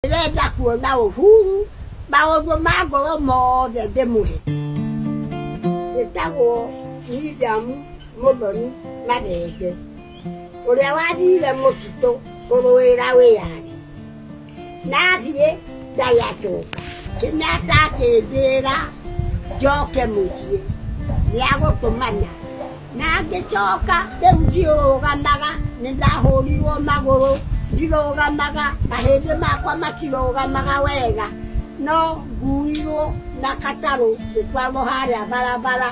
Ndĩrenda kuona Uhuru maũndũ ma ngoro mothe ndĩmũhe. Njĩtagwo William Muthoni Mathenge, ũrĩa wathire mũtitũ kũrũĩra wĩyathi, na athiĩ ndarĩ acoka. Kenyatta akĩnjĩra njoke mũciĩ nĩ agũtũmana. Na ngĩcooka rĩu ndirũũgamaga, nĩndahũũrirwo magũrũ, ndirũũgamaga, mahĩndĩ makwa matirũũgamaga wega, no nguuirwo na gatarũ ngĩtwarwo harĩa barabara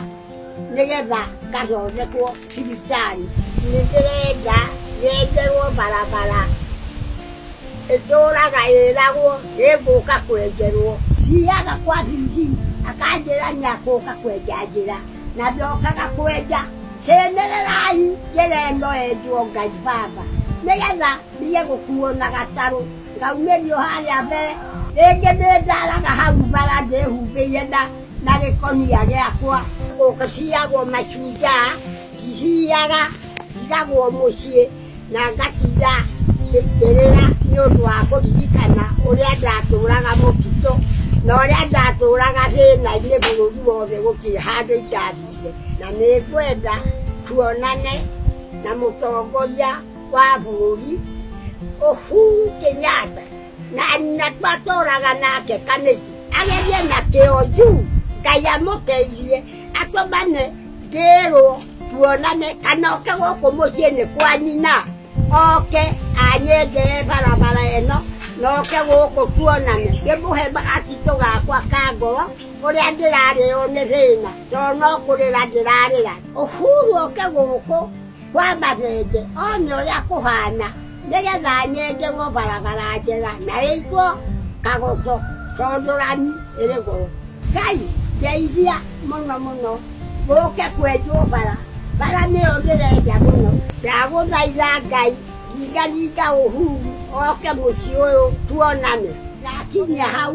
nĩgeetha ngathondekwo thibitarĩ. Nĩndĩrenda nyenjerwo barabara ĩtũũraga ĩĩragwo nĩngũũka kwenjerwo. Thiiaga kwa Bibi, akanjĩra nĩakũũka kwenja njĩra. na ndokaga kwenja cĩnĩrĩrai njĩra ĩno yenjwo ngai baba nĩgetha thiĩ gũkuo na gatarũ ngaumĩrio harĩa mbere rĩngĩ nĩndaraga hau bara ndĩhumbĩire na na gĩkonia gĩakwa ũgĩciagwo mashujaa ndiciyaga ndigagwo mũciĩ na ngatinda ngĩrĩra nĩ ũndũ wa kũririkana ũrĩa ndatũũraga mũtitũ na ũrĩa ndatũũraga thĩna-inĩ bũrũri wothe gũtirĩ handũ itathiire na nĩ ngwenda tuonane na mũtongoria wa bũrũri Uhuru Kenyatta. na nyakwa tũraga nake kanĩki agerie na kĩo yu ngai amũteithie atũmane ndĩrwo tuonane kana oke gũkũ mũciĩ nĩ kwa nyina oke anyengere barabara ĩno na oke gũkũ tuonane ndĩmũhe gatitũ gakwa ka ngoro ũrĩa ndĩrarĩo nĩ thĩna tondũ no kũrĩra ndĩrarĩra ũhuru oke gũkũ kwamba rĩngĩ onye ũrĩa kũhana nĩgetha nyenjerwo barabara njega na ĩitwo kagũtũ tondũrani ĩrĩ gũrũ ngai ndeithia mũno mũno gũke kwenjwo bara bara nĩyo ndĩrenda mũno ndagũthaitha ngai ringaringa ũhuru oke mũciĩ ũyũ tuonane nakinya hau